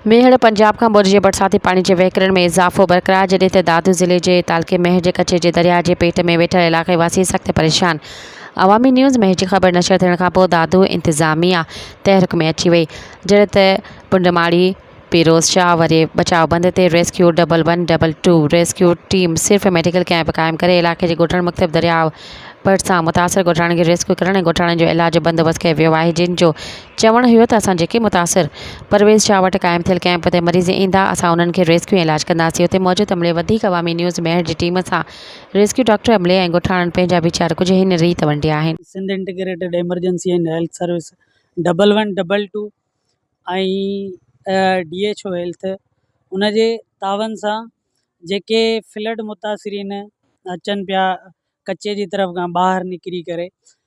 ميهڙ، پنجاب کان ٻوڏ جي برساتي پاڻي جي وهڪرن ۾ اضافو برقرار جڏهن ته دادو ضلعي جي تعلقي ميهڙ جي ڪچي جي درياهه جي پيٽ ۾ ويٺل علاقائي واسي سخت پريشان عوامي نيوز ميهڙ جي خبر نشر ٿيڻ کانپوء دادو انتظاميا تحرڪ ۾ اچي وئي جڏهن ته پنڊماڙي پيروز شاهه وري بچاء بند تي rescue double one double two rescue team صرف ميڊيڪل ڪئمپ قائم ڪري علاقي جي ڳوٺاڻن مختلف درياهه ڀرسان متاثر ڳوٺاڻن کي ريسڪيو ڪرڻ ۽ ڳوٺاڻن جو علاج بندوبست ڪيو ويو آهي جن جو چوڻ اهو ته اسان جيڪي متاثر پرويز شاهه وٽ قائم ٿيل ڪئمپ تي مريض ايندا اسان انهن کي ريسڪيو ۽ علاج ڪنداسين اتي موجود عملي وڌيڪ عوامي نيوز ميهڙ جي ٽيم سان ريسڪيو ڊاڪٽر عملي ۽ ڳوٺاڻن پنهنجا ويچار ڪجهه هن ريت ونڊيا آهن. Sindh integrated emergency and health service double one double two ۽ D H O health ان جي تعاون سان جيڪي فلڊ متاثرين اچن پيا ڪچي جي طرف کان ٻاهر نڪري ڪري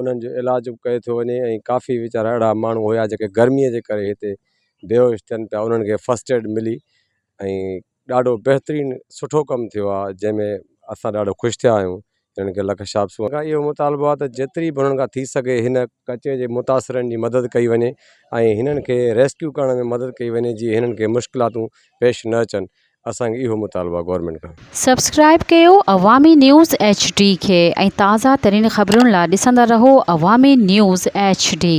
انهن جو علاج به ڪيو ٿو وڃي ۽ ڪافي ويچارا اهڙا ماڻهو هيا جيڪي گرميء جي ڪري هتي بيهوش ٿين پيا انهن کي فسٽ ايڊ ملي ۽ ڏاڍو بهترين سٺو ڪم ٿيو آهي جنهن ۾ اسان ڏاڍو خوش ٿيا آهيون هنن کي لک شابسون کان اهو مطالبو آهي ته جيتري به هنن کان ٿي سگهي هن ڪچي جي متاثرن جي مدد ڪئي وڃي ۽ هنن کي ريسڪيو ڪرڻ ۾ مدد ڪئي وڃي جي هنن کي مشڪلاتون پيش نه اچن اسان کي اهو مطالبو آهي گورنمينٽ کان. سبسڪرائب ڪيو عوامي نيوز ايڇ ڊي کي ۽ تازه ترين خبرن لا ڏسندا رهو عوامي نيوز ايڇ ڊي.